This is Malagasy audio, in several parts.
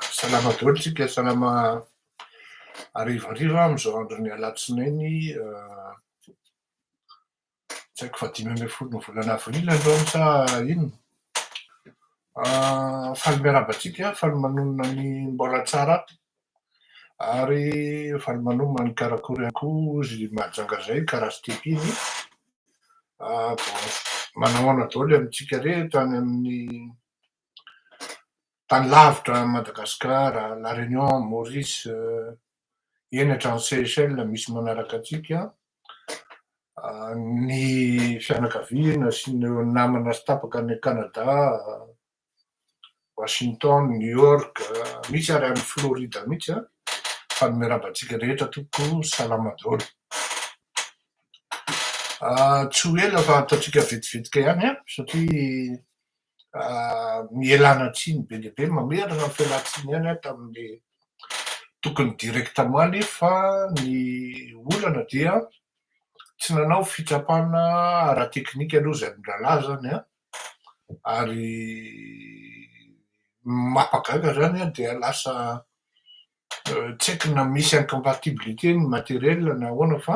Salama daholo tsika, salama harivariva amin'izao andron'ny alatsinainy tsy haiko fa dimy ambin'ny folo ny volana avril androany sa inona. Faly miarahaba antsika, faly manonona ny mbola tsara ary faly manomana ny karakory ihany koa izy mahajanga izay karaha sy teto iny. Manahoana daholo amintsika re tany amin'ny tany lavitra any Madagascar, La Réunion, Maurice, eny hatrany Seychelles misy manaraka antsika, ny fianakaviana sy ny namana sy tapaka any Canada, Washington, New York, misy ary any Florida mihitsy an! fa ny miarahaba antsika rehetra tompoko salama daholo. Tsy ho ela fa ataontsika vetivetika ihany an! satria Mielana tsiny be dia be, mamerina ny fialantsiny ihany aho tamin'ny tokony directement lie fa ny olana dia tsy nanao fitsapana ara-teknika aloha izay mirahalahy izany an, ary ny mampagaga izany an dia lasa tsy haiko na misy incompatibilité ny matériel na ahoana fa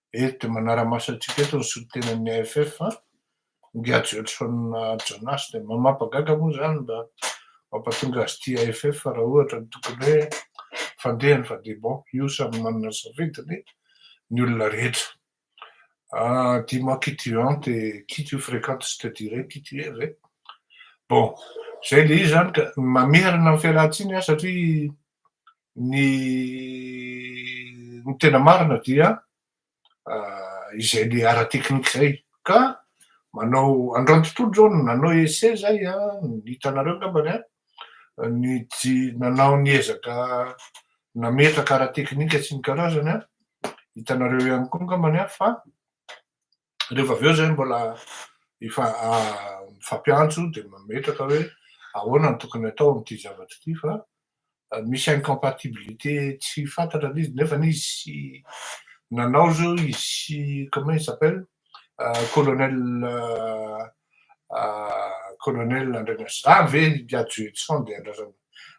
Eto dia manara-maso antsika eto ny solontenan'ny AFF fa ingahy Joelson Janas dia mamapagaga moa izany mba mampatonga azy tia AFF raha ohatra ny tokony hoe fandeha ny fandeha bon io samy manana ny safidiny ny olona rehetra ah dis moi qui tu hante et qui tu fréquente je te dirai qui tu es ve bon izay le izy izany ka mamerina ny fialantsiny ah satria ny ny tena marina dia izay le ara teknika zay ka manao androany tontolo zao no nanao ese zay a hitanareo angambany a ny tsy nanao ny ezaka nametraka ara teknika sy ny karazany a hitanareo ihany koa angambany a fa Rehefa avy eo izay mbola efa mifampiantso dia mametraka hoe ahoana no tokony atao amin'ity zavatra ity fa misy incompatibilité tsy fantatra ilay izy nefa izy nanao izao izy comment il s'appelle colonel colonel Andrianasina zany ve Andrianasina dia andrasana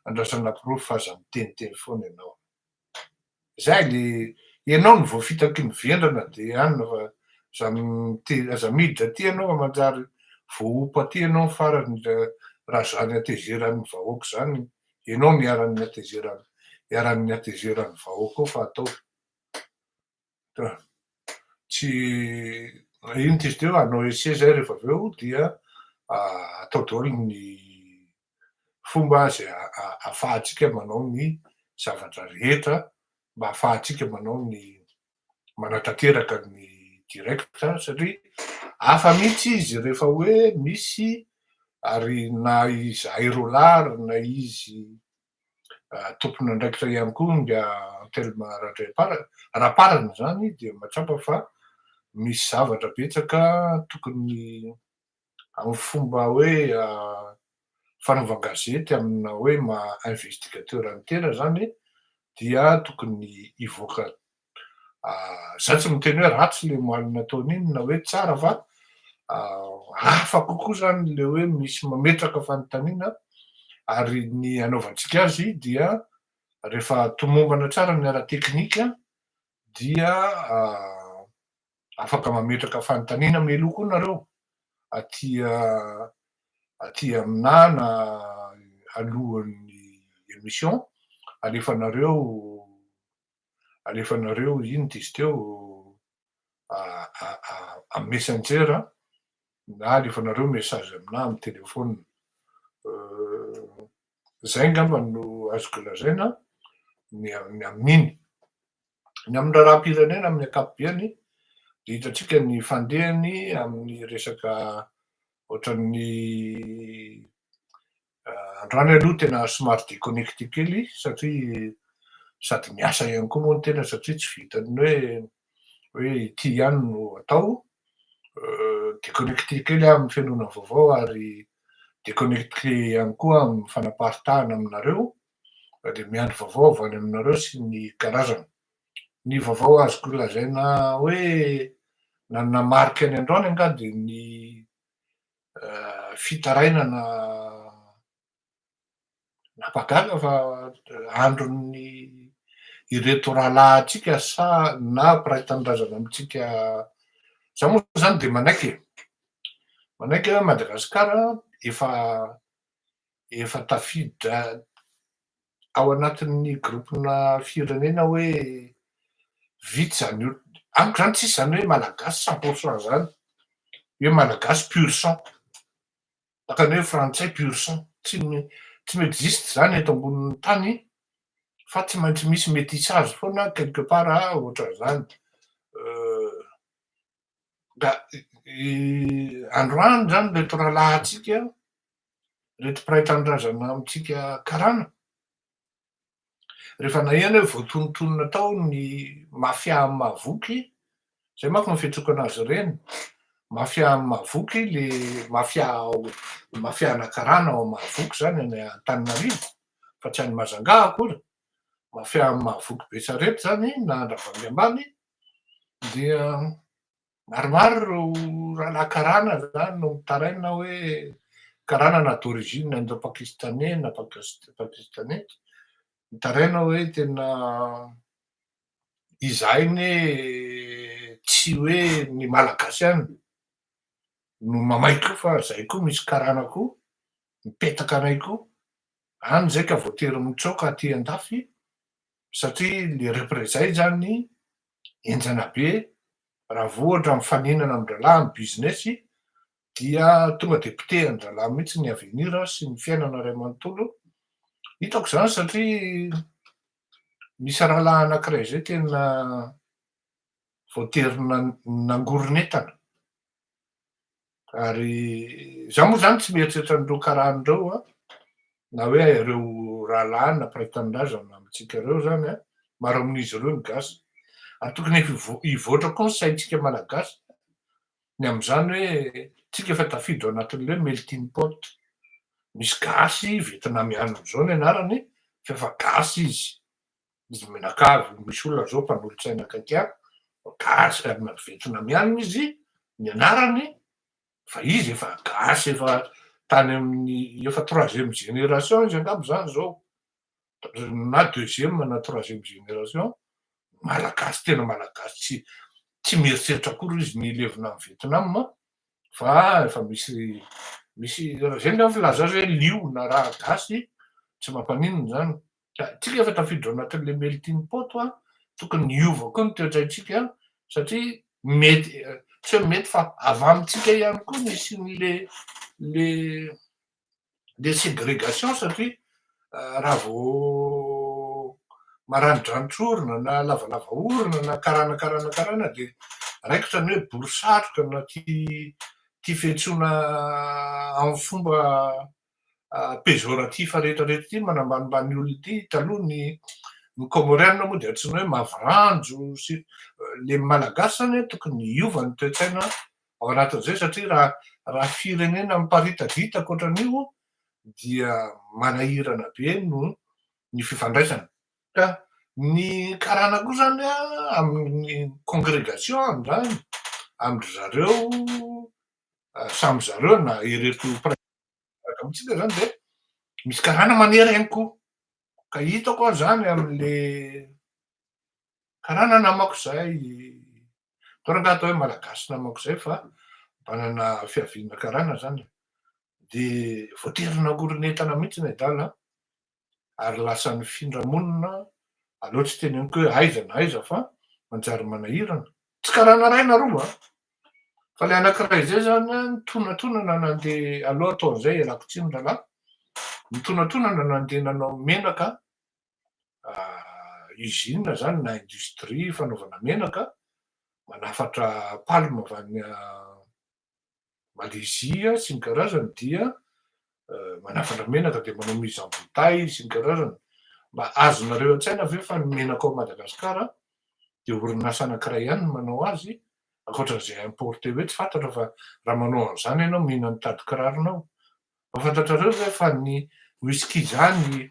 andrasana porofo fa aza miteniteny foana ianao Zay le enao no voafitaky ny vendrana de anona fa aza mite aza miditra aty enao fa manjary voaompa aty enao ny farany ra zany atezeran'ny vahoaka zany enao no iharan'ny atezeran'ny iharan'ny atezeran'ny vahoaka ao fa ataovy. tsy iny t'izy teo hanao essai zay rehefa avy eo dia atao daholo ny fomba zay afahantsika manao ny zavatra rehetra mba afahantsika manao ny manatanteraka ny direct satria hafa mihitsy izy rehefa hoe misy ary na izahay roa lahy ary na izy tompon'andraikitra ihany koa ny Antelme Radraipara, Raparana izany dia mahatsapa fa misy zavatra betsaka tokony amin'ny fomba hoe fanaovan-gazety amina hoe maha investigateur an-tena izany dia tokony hivoaka Izaho tsy miteny hoe ratsy ilay omaly nataony iny na hoe tsara fa hafa kokoa izany ilay hoe misy mametraka fanontaniana ary ny anaovantsika azy dia rehefa tomombana tsara ny ara-teknika dia afaka mametraka fanontaniana meloa koa nareo aty aty aminà na alohan'ny émission alefanareo alefanareo iny diso teo amin'ny messenger na alefanareo message aminà amin'ny telefaonina. Izay angamba no azoko lazaina ny amin'iny. Ny amin'ny raharaham-pirenena amin'ny ankapobeny dia hitantsika ny fandehany amin'ny resaka ohatran'ny Androany aloha tena somary déconnecté kely satria sady miasa ihany koa moa ny tena satria tsy vitan'ny hoe hoe ity ihany no atao. Déconnecté kely aho amin'ny fihainoana vaovao ary déconnecté ihany koa amin'ny fanaparitahana aminareo dia miandry vaovao avy any aminareo sy ny karazany. Ny vaovao azoko lazaina hoe nanana marika ny androany angaha dia ny fitarainana napagana fa andron'ny ireto rahalahintsika sa na mpiray tanindrazana amintsika za moa zany de manaiky e manaiky a Madagasikara efa efa tafiditra ao anatin'ny groupe-na firenena hoe vitsy izany olona, amiko izany tsisy izany hoe malagasy cent pour cent izany, hoe malagasy pur sang, ohatran'ny hoe frantsay pur sang, tsy tsy mi-existe izany eto ambonin'ny tany fa tsy maintsy misy métissage foana quelque part ohatran'izany, androany izany ireto rahalahintsika ireto mpiray tanindrazana amintsika karana? Rehefa naheno hoe voatonontonona tao ny mafia amin'ny mahavoky, izay manko no fitsokana azy ireny, mafia amin'ny mahavoky, le mafia ao, mafia ana karana ao amin'ny mahavoky izany any Antananarivo, fa tsy any Mazangà akory, mafia amin'ny mahavoky Betsarety izany na Andravoahangy ambany, dia Maromaro ireo rahalahy karana izany no mitaraina hoe karana na d'origine indo-pakistaney na pakistaney, mitaraina hoe tena izahay anie tsy hoe ny Malagasy ihany no mamay koa fa izahay koa misy karana koa mipetaka anay koa, any izay ka voatery mitsoaka aty an-dafy satria le reprezay izany enjana be raha vao ohatra mifaninana amin-drahalahy amin'ny business dia tonga dia potehan-drahalahy mihitsy ny avenir sy ny fiainana ray manontolo, hitako izany satria misy rahalahy anankiray izay tena voatery nangoron'entana. Ary za moa zany tsy mieritreritra an'ireo karany ireo a, na hoe ireo rahalahy na mpiray tanindrazana amintsika ireo zany a, maro amin'izy ireo ny gasy, ary tokony efa hivoatra koa ny saintsika malagasy ny amin'izany hoe tsika efa tafiditra ao anatin'ilay melting pot, misy gasy vietnamiana zao ny anarany f'efa gasy izy, izy mianakavy, misy olona zao mpanolotsaina akaiky ahy, gasy ary naventina mianina izy nianarany fa izy efa gasy efa tany amin'ny efa troisième génération izy angamba zany zao na deuxième na troisième génération malagasy tena malagasy tsy tsy mieritreritra akory izy ny hilevina any Vietnam fa efa misy misy raha zay ny aho filaza hoe liona raha gasy tsy mampaninona zany Isika efa tafiditra ao anatin'ilay melting pot a, tokony hiova koa ny toetraintsika satria mety, tsy hoe mety fa avy amintsika ihany koa ny hisian'ilay ilay ilay segregation satria raha vao maranidranitra orona na lavalava orona na karana karana karana dia raikitra ny hoe bory satroka na tia tia fiantsoana amin'ny fomba pejoratif rehetra rehetra ity manambanimbany ny olona ity taloha ny ny comorianina moa dia antsoina hoe maviranjo sy le malagasy zany hoe tokony hiova ny toetsaina ao anatin'izay satria raha raha firenena miparitadita ankoatran'io dia manahirana be no ny fifandraisana ka ny karana koa zany a amin'ny congregation amin'izany amindry zareo samy zareo na ireto Gaga mihitsy le zany de misy karana manery ihany koa. Ka hitako aho zany amin'le karana namako zay, toa rangaha atao hoe malagasy namako zay fa manana fiaviana karana zany e, de voatery nagoriny entana mihitsy nedala ary lasa nifindra monina aleo tsy teny amiko hoe aiza na aiza fa manjary manahirana tsy karana ray na roa a fa le anakiray izay zany a nitonatonana nandeha aleo atao an'izay ialako tsiny rahalahy nitonatonana nandeha nanao menaka usine zany na industrie fanaovana menaka manafatra palme avy any Malezia sy ny karazany dia manafatra menaka dia manao mise en bouteille sy ny karazany. Mba azonareo an-tsaina ve fa ny menaka ao Madagasikara dia orinasa anankiray ihany no manao azy ankoatran'izay importé hoe tsy fantatra fa raha manao an'izany ianao mino an'i tady kiraronao. Mba fantatrareo ve fa ny whisky izany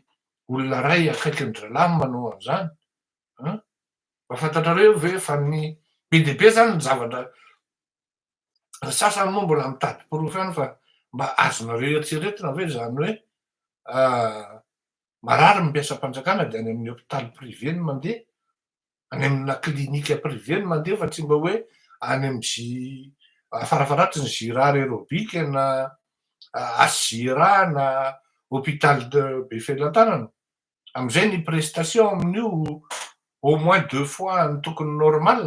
olona iray akaikin'ny drala no manao an'izany an? Mba fantatrareo ve fa ny be dia be izany ny zavatra Ny sasany moa mbola mitady porofo ihany fa mba azonareo eritreretina ve izany hoe marary ny mpiasam-panjakana dia any amin'ny hopitaly privé no mandeha, any amina clinique privée no mandeha fa tsy mba hoe any amin'ny J farafaharatry ny Gira Aerobik na HJIRA na hopitaly be felan-tanana. Amin'izay ny prestation amin'io au moins deux fois ny tokony normal.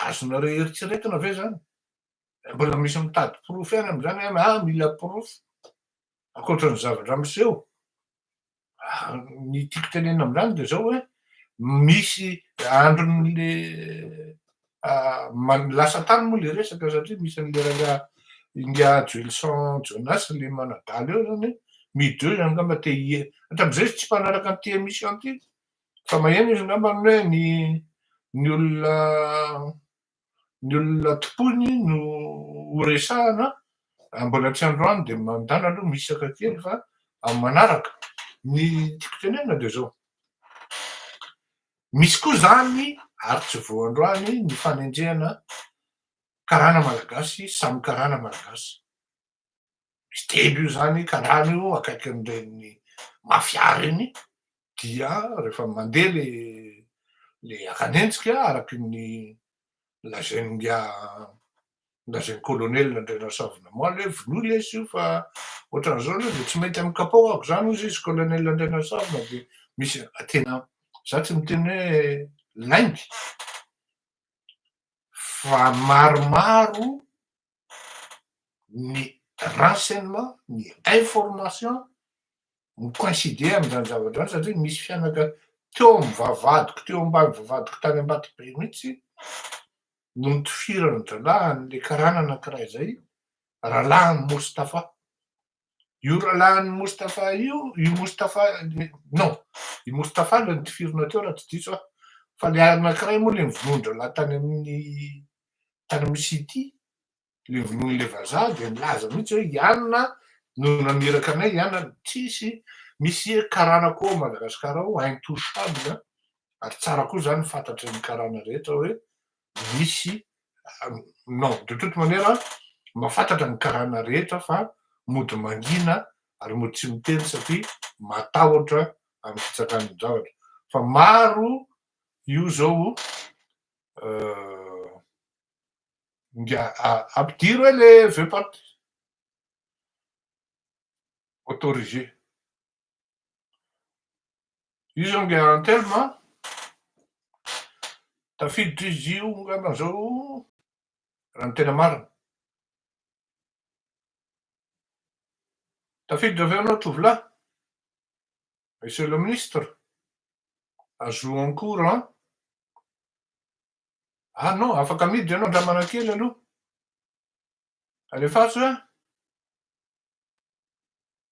azonareo eritreretina ve zany? Mbola misy mitady porofo ihany amzany an, ah mila porofo ankoatra ny zavatra miseho, ny tiako tenenina amzany de zao hoe misy andron'le lasa tany moa le resaka satria misy an'le rangahy ingahy Joelison Jonas le manadala eo zany mideuh angamba te hier, hatramzay izy tsy mpanaraka an'ity emission ty Fa maheno izy angambany hoe ny ny olona ny olona tompoiny no ho resahana a, mbola tsy androany dia mandana aloha mihisaka kely fa amin'ny manaraka. Ny tiako tenenina dia izao, misy koa izany ary tsy vao androany ny fanenjehana karana malagasy samy karana malagasy. miteny io zany karana io akaikin'ireny mafia reny dia rehefa mandeha le le akanenjika araky ny lazain'ny ngiahy lazain'ny colonel Andrianarasavy Namaly hoe vonoy lesy io fa ohatran'izao aloha dia tsy mety amin'ny kapohako zany hozy izy colonel Andrianarasavy na dia misy tena za tsy miteny hoe lainga fa maromaro ny renseignement, ny information mi-coincider amin'izany zavatra izany satria misy fianaka teo amin'ny vavahadiko, teo ambany vavahadiko tany Ambatobe mihitsy no nitofiran'ny rahalahy an'ilay karana anankiray izay, Ralahiny Moustapha. Io rahalahin'i Moustapha io, i Moustapha, non, i Moustapha ilay nitifirina teo raha tsy diso aho, fa ilay anankiray moa ilay nivonon-drahalahy tany amin'ny, tany amin'ny City, ilay vonoin'ilay vazaha dia nilaza mihitsy hoe i Anna no naniraka anay, i Anna, tsisy, misy karana koa ao Madagasikara ao, intouchable, ary tsara koa izany ny fantatry ny karana rehetra hoe misy non de toute manière mahafantatra ny karana rehetra fa mody mangina ary mody tsy miteny satria matahotra amin'ny fitsakany ny zavatra fa maro io zao nga ampidiro e le veuxpart autorisé Izy zao nge en terme an, tafiditra izy io angamba zao raha ny tena marina. Tafiditra avy eo ianao tovolahy, Monsieur le Ministre, ajout en cours an. Ah non, afaka miditra ianao andramana kely aloha. Alefaso an.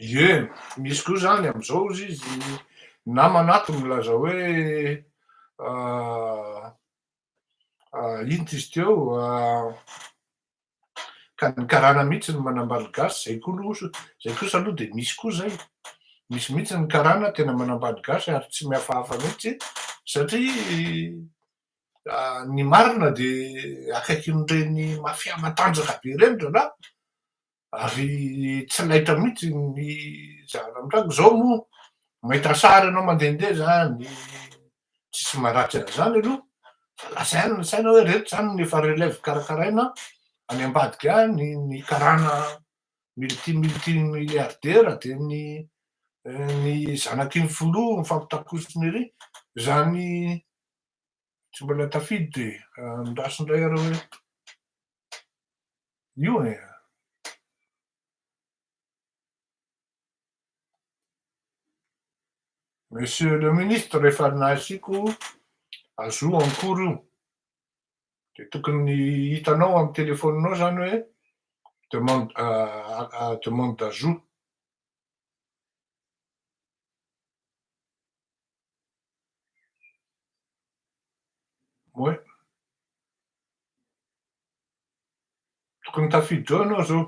Ie, misy koa izany amin'izao hozy izy, namana ato milaza hoe inty izy teo ka ny karana mihitsy no manambady gasy, izay koa aloha, izay kosa aloha dia misy koa izay, misy mihitsy ny karana tena manambady gasy ary tsy mihafahafa mihitsy satria Ny marina dia akaikin'ireny mafia matanjaka be ireny rahalahy ary tsy laitra mihitsy ny zava-mitranga, izao moa mahita sary ianao mandehandeha izany tsisy maharatsy an'izany aloha fa lasa ihany ny saina hoe ireto izany no efa relève karakaraina any ambadika any, ny karana multi multi milliardaire dia ny ny zanaky ny filoha mifampitakosina ery, izany Tsy mbola tafiditra e, andraso indray areo hoe io e. Monsieur le ministre, rehefa nasiako azo en cours io, dia tokony hitanao amin'ny telefaoninao izany hoe demande, demande d'ajout. Oay. Tokony tafiditra ao ianao izao.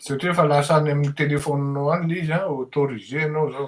Satria efa lasa any amin'ny téléphone-nao any ilay izy, autorisé ianao izao.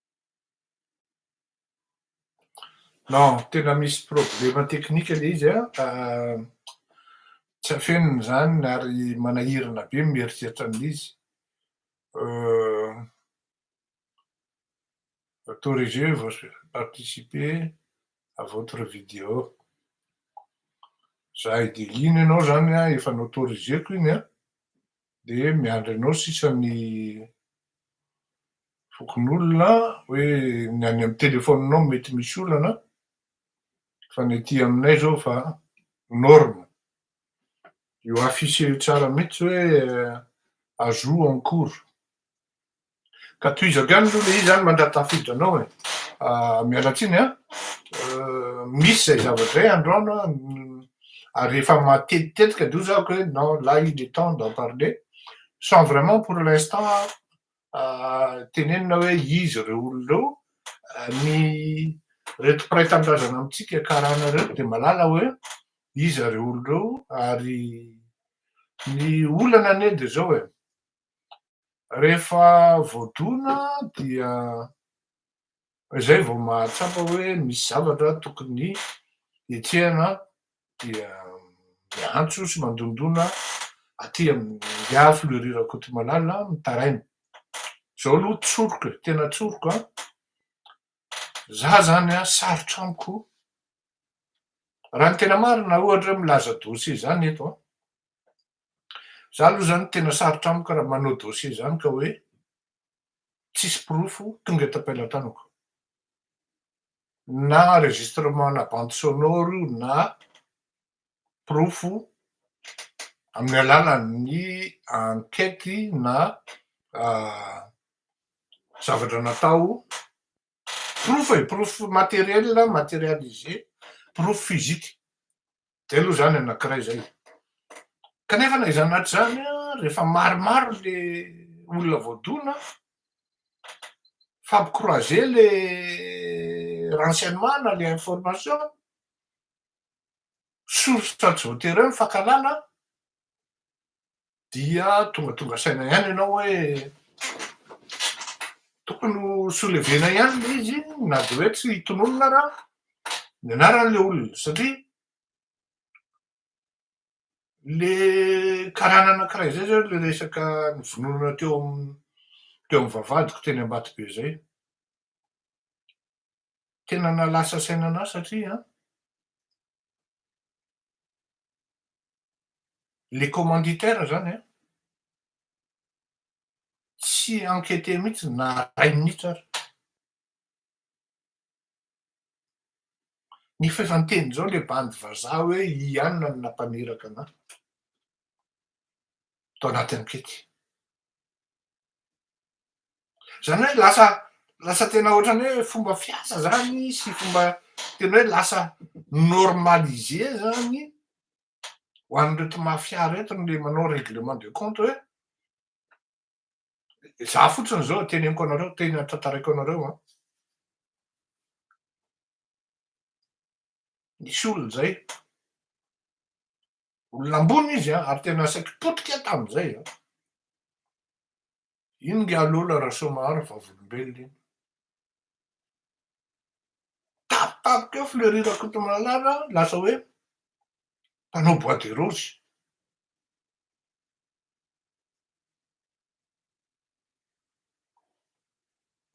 Non, tena misy problema teknika ilay izy an, tsy afenina izany ary manahirana be ny mieritreritra an'izy, autorisez vous à participer à votre vidéo, za i Delina ianao izany an efa noautoriseko iny an. Dia miandry anao sisa ny fokonolona hoe ny any amin'ny telefaoninao mety misy olana fa ny aty aminay izao efa norme. Io afficher io tsara mihitsy hoe ajout en cours. Ka tohizako ihany aloha ilay izy an, mandra-tafiditra anao e. Miala tsiny an, misy izay zavatra izay andro an, ary rehefa matetitetika dia hoy za hoe non là il est temps d'en parler sans vraiment pour l'instant tenenina hoe iza ireo olona ireo, ny ireto mpiray tanindrazana amintsika karana ireto dia malala hoe iza ireo olona ireo ary ny olana anie dia izao e. Rehefa voadona dia izay vao mahatsapa hoe misy zavatra tokony hetsehana dia miantso sy mandondona aty amin'ny ahy Fleury Rakotomalala mitaraina. Izao aloha tsoriko e, tena tsoriko an! Za zany an sarotra amiko, raha ny tena marina ohatra hoe milaza dossier zany eto an, Za aloha zany tena sarotra amiko raha manao dossier zany ka hoe tsisy porofo tonga eto am-pelatanako. Na enregistrement ana bande sonore io na porofo amin'ny alalan'ny enquête na zavatra natao. Porofo e, porofo materiel, materialisé, porofo physique. Dia aloha izany anankiray izay. Kanefa na izany na tsy izany, rehefa maromaro ilay olona voadona, fampikroize ilay renseignement na ilay information, source tsy voatery eo ny fankahalana, dia tongatonga saina ihany ianao hoe tokony ho soulevena ihany le izy na de hoe tsy hitononona ra ny anaran'le olona satria le karana anakiray zay zany le resaka ny vononona teo am teo am vavadiko teny ambato be zay tena na lasa saina anah satria an Le commanditaire zany an, tsy enqueter mihitsy na iray minitra ary. Ny f'efa niteny zao le bandy vazaha hoe ianona no nampaniraka ana, tao anaty ankety. Zany hoe lasa lasa tena ohatrany hoe fomba fiasa zany sy fomba tena hoe lasa normalisé zany ho an'ireto mafia reto le manao règlement de compte hoe za fotsiny zao teneniko anareo tena tantaraiko anareo an nisy olona zay olona ambony izy an, ary tena saiky potika tamin'izay an. Iny nge alola Rasoamaharo vavolombelona iny. Tapitapika eo Fleury Rakotomalala lasa hoe mpanao bois de rose.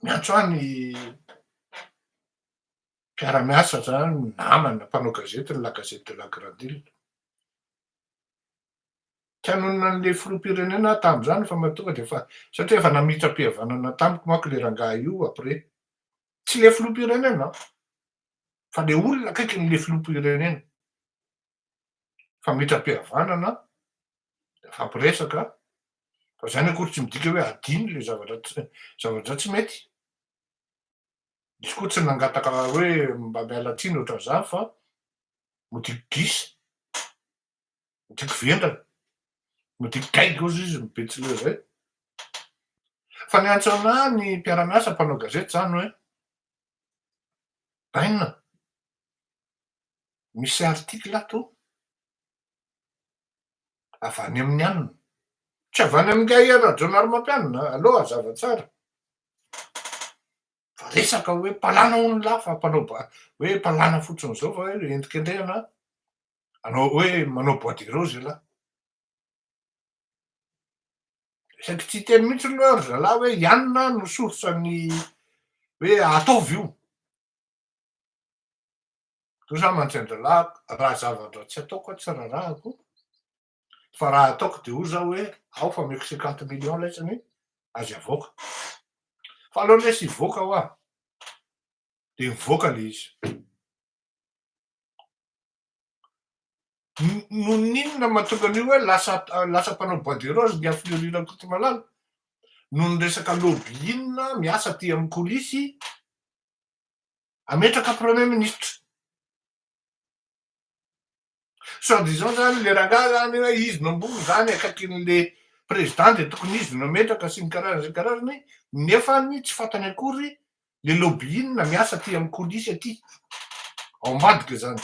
Miantso ahy ny mpiara-miasa zany, namana, mpanao gazety ny La Gazette de la Grande Ile. Tsy hanonona an'le filoham-pirenena aho tamin'izany fa matoa dia efa, satria efa namitram-pihavanana tamiko manko le rangahy io après. Tsy le filoham-pirenena an! Fa le olona akaikin'le filoham-pirenena. Famitram-pihavanana, nifampiresaka, fa zany akory tsy midika hoe hadino le zavatra tsy, zavatra tsy mety. Izy koa tsy nangataka hoe mba miala tsiny ohatran'izany fa modiky gisa, modiky vendrana, modiky gaigy ozy izy ny Betsileo izay. Fa niantso anà ny mpiara-miasa mpanao gazety izany hoe Bainina, misy article ato avy any amin'ny anona. Tsy avy any amin'ingahy Rajaonarimampianina a! Aleo hazava tsara fa resaka hoe mpalàna hono lahy fa mpanao ba- hoe mpalàna fotsiny izao fa hoe endrikendrehana hanao hoe manao bois de rose ialahy. Sady tsy hiteny mihitsy aloha ry zalahy hoe i anona no source-n'ny hoe ataovy io. Toa izaho mantsy an-dralahiko, raha zava-dra tsy ataoko aho tsy rarahako, fa raha ataoko dia hoy izaho hoe ao fa omeko cinquante millions laitsany azy avoaka. Fa alohan'ny hoe tsy hivoaka hoa dia mivoaka ilay izy. Noho ny inona no mahatonga an'io hoe lasa lasa mpanao bois de rose Ngiahy Fleuri Rakotomalala? Noho ny resaka lobby inona miasa aty amin'ny coulisse Ametraka premier ministre. Soit disant zany le rangahy zany hoe izy no ambony zany akaikin'le président de tokony izy no ametraka sy ny karazany sy ny karazany nefa ny tsy fantany akory le lobbying miasa aty amin'ny coulisse aty ao ambadika zany.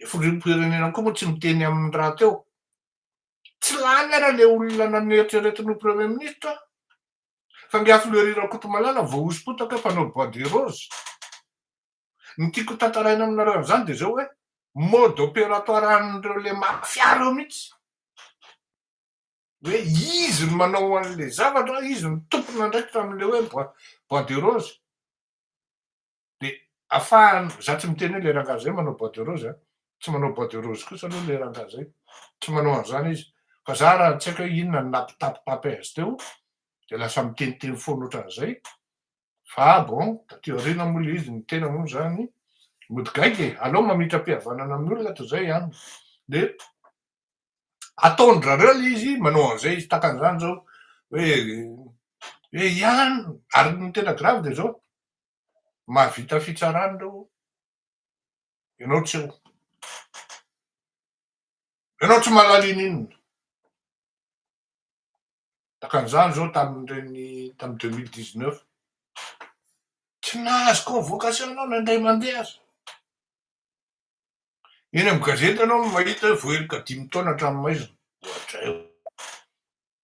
Le filoham-pirenena koa moa tsy miteny amin'ny rahateo. Tsy lany ary ilay olona neritreretin'io premier ministre fa nge afleuri Rakotomalala voahosompotaka mpanao bois de rose. Ny tiako hotantaraina aminareo an'izany dia izao hoe mode opératoire an'ireo ilay mafia ireo mihitsy. Hoe izy no manao an'ilay zavatra, izy no tompon'andraikitra amin'ilay hoe bois, bois de rose. de afahany za tsy miteny hoe le rangahy zay manao bois de rose a, tsy manao bois de rose kosa aloha le rangahy zay, tsy manao an'zany izy, fa za raha tsy haiko hoe inona no nampitapitapy azy teo de lasa miteniteny foana otran'zay, fa bon taty aoriana moa le izy ny tena moa zany mody gaigy e, aleo mamitram-pihavanana amin'ny olona toy zay an, de ataon-drareo le izy manao an'zay izy, tahaka an'zany zao hoe hoe ian, ary ny tena grave de zao, Mahavita fitsarana ireo ô. Ianao tsy eo. Ianao tsy mahalala ininona. Takan'izany izao tamin'ireny tamin'ny deux mille dix neuf. Tsy nahazo convocation ianao na indray mandeha aza. Eny amin'ny gazety ianao no mahita hoe voaheloka dimy taona an-tranomaizina. Ohatr'ay.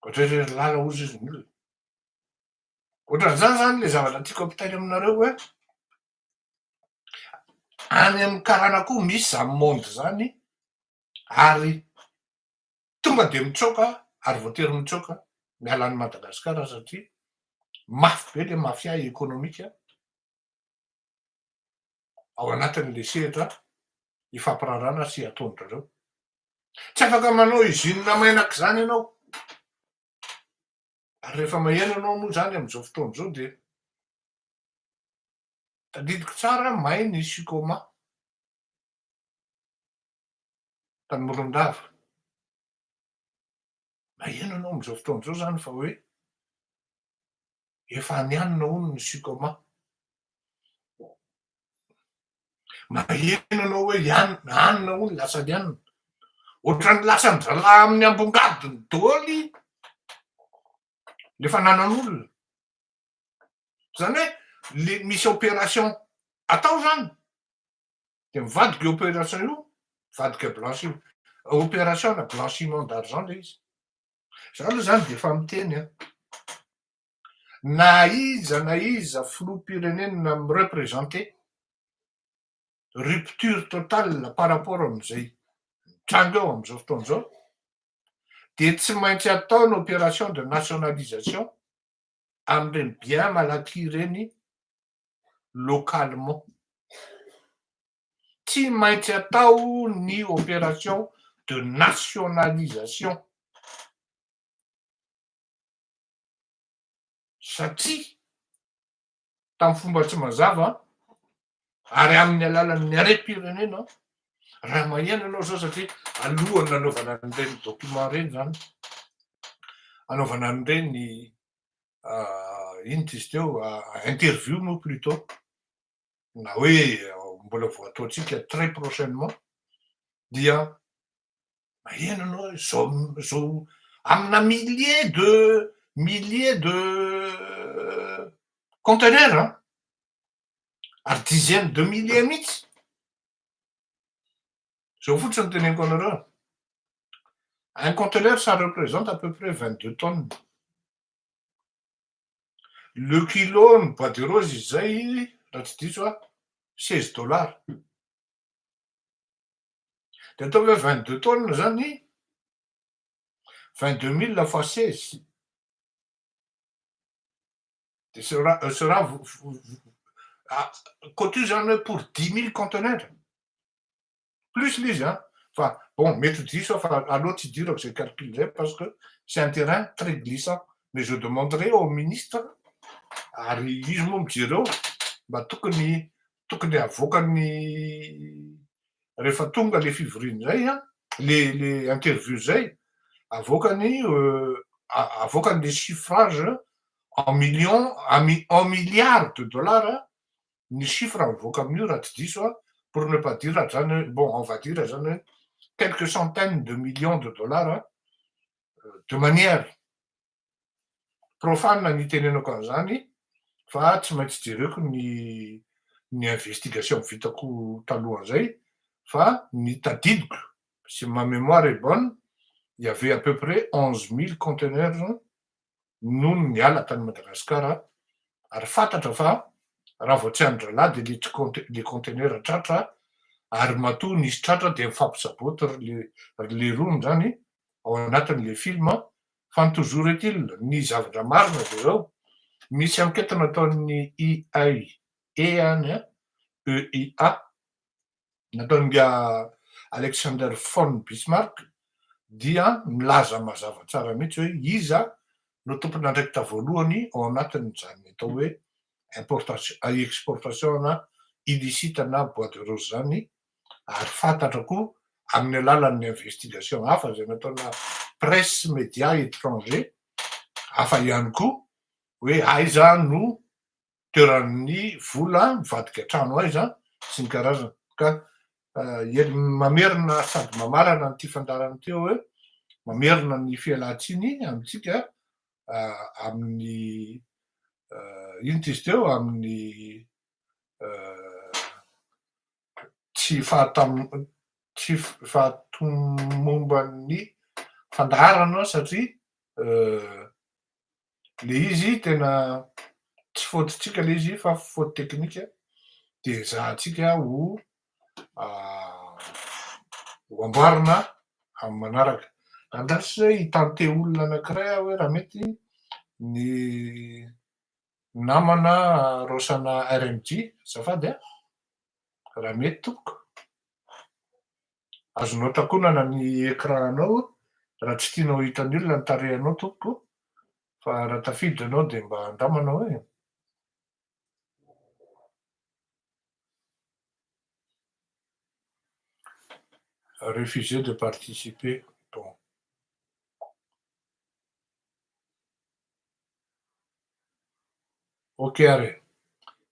Ohatr'ay ry lala hozy izy nila. Ohatran'izany izany ilay zavatra tiako ampitaina aminareo hoe any amin'ny karana koa misy izany monde izany ary tonga dia mitsoaka ary voatery mitsoaka miala an'i Madagasikara satria mafy be ilay mafia ekonomika ao anatin'ilay sehatra ifampirarana sy ataon'ireo. Tsy afaka manao izina mainaka izany ianao. Ary rehefa maheno anao moa izany amin'izao fotoana izao dia tadidiko tsara may ny sikôma tany Morondava. Maheno anao amin'izao fotoana izao izany fa hoe efa any anona hono ny sikôma. Maheno anao hoe lianina, anona hono lasa lianina. Ohatran'ny lasan'ny zalahy amin'ny ambongadiny dôly le fananan'olona. Zany hoe le misy opération atao zany de mivadika io opération io, mivadika blanchi opération na blanchiment d'argent le izy. Za aloha zany de efa miteny an. na iza na iza filoham-pirenena mi representer, rupture totale par rapport amin'izay mitranga eo amin'izao fotoana izao, dia tsy maintsy atao ny opération de nationalisation amin'ireny bien malaky ireny localement. Tsy maintsy atao ny opération de nationalisation. satria tamin'ny fomba tsy mazava ary amin'ny alalan'ny harem-pirenena raha maheno ianao zao satria alohany nanaovana an'ireny document ireny zany anaovana an'ireny ah, ino izy teo ah, interview moa plutot na hoe mbola vao ataontsika très prochainement dia maheno anao zao zao amina millier de millier de conteneur an ary dizaine de millier mihitsy zao fotsiny teneniko anareo un conteneur ça représente à peu près vingt deux tonnes Le kilo ny bois de rose izay raha tsy diso aho seize dollars. Dia ataovy hoe vingt deux tonnes izany vingt deux mille fois seize. Dia sera sera koa toy izany hoe pour dix mille conteneurs. plus le izy an! fa bon mety ho diso aho fa aleo tsy hidirako izay calcul izay parce que c'est un terrain très glissant mais je demanderai au ministre ary izy moa mijereo mba tokony tokony havoakany rehefa tonga le fivoriana izay an! le le interview izay avoakany avoakany le chiffrage en millions en milliards de dollars ny chiffre mivoaka amin'io raha tsy diso aho, pour ne pas dire zany hoe, bon on va dire zany hoe quelques centaines de millions de dollars de manière profane ny itenenako an'izany fa tsy maintsy jereko ny ny investigation vitako talohan'izay fa ny tadidiko si ma memoire est bonne il y avait à peu près onze mille conteneurs nony niala tany Madagasikara ary fantatra fa raha vao tsy any drala dia le le conteneur tratra ary matoa nisy tratra dia mifampisaboty ry le ry le rony zany ao anatin' le film fa ny toujours est il ny zavatra marina dia zao misy enquete nataon' ny IAE any an EIA nataon'Ingahy Alexander von Bismarck dia milaza mazava tsara mihitsy hoe iza no tompon'andraikitra voalohany ao anatin'izany atao hoe importation, exportation na illicite na bois de rose izany ary fantatra koa amin'ny alalan'ny investigation hafa izay nataona presse media étranger hafa ihany koa hoe aiza no toeran'ny vola mivadika trano aiza sy ny karazany ka mamerina sady mamarana an'ity fandaharana ity hoe mamerina ny fialantsiny amintsika amin'ny inona izy teo amin'ny tsy fahatomomban'ny fandaharana aho satria le izy tena tsy faute-tsika le izy fa faute technique de ezahantsika ho ho amboarina amin'ny manaraka. Andraso hoe hi-tenter olona anankiray aho hoe raha mety ny. Namana raosana RMJ azafady a! Raha mety tompoko. Azonao takonana ny écran anao raha tsy tianao ho hitan'ny olona ny tarehinao tompoko fa raha tafiditra ianao dia mba andramana hoe. Refuser de participer bon. Ok ary.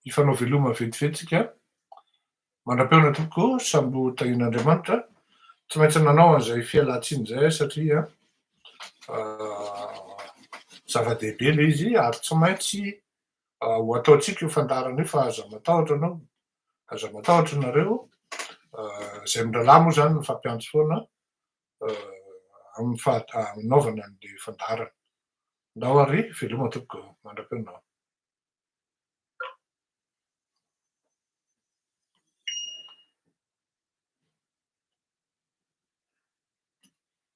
Hifanao veloma ventiventy tsika. Mandrapeona tompoko samby ho tahian'Andriamanitra. Tsy maintsy nanao an'izay fialantsiny izay satria zava-dehibe le izy ary tsy maintsy ho ataontsika io fandaharana io fa aza matahotra anao. Aza matahotra nareo. Izay mirahalahy moa zany mifampiantso foana amin'ny fanaovana ny fandaharana. Ndao ary veloma tompoko mandra-peo ndao.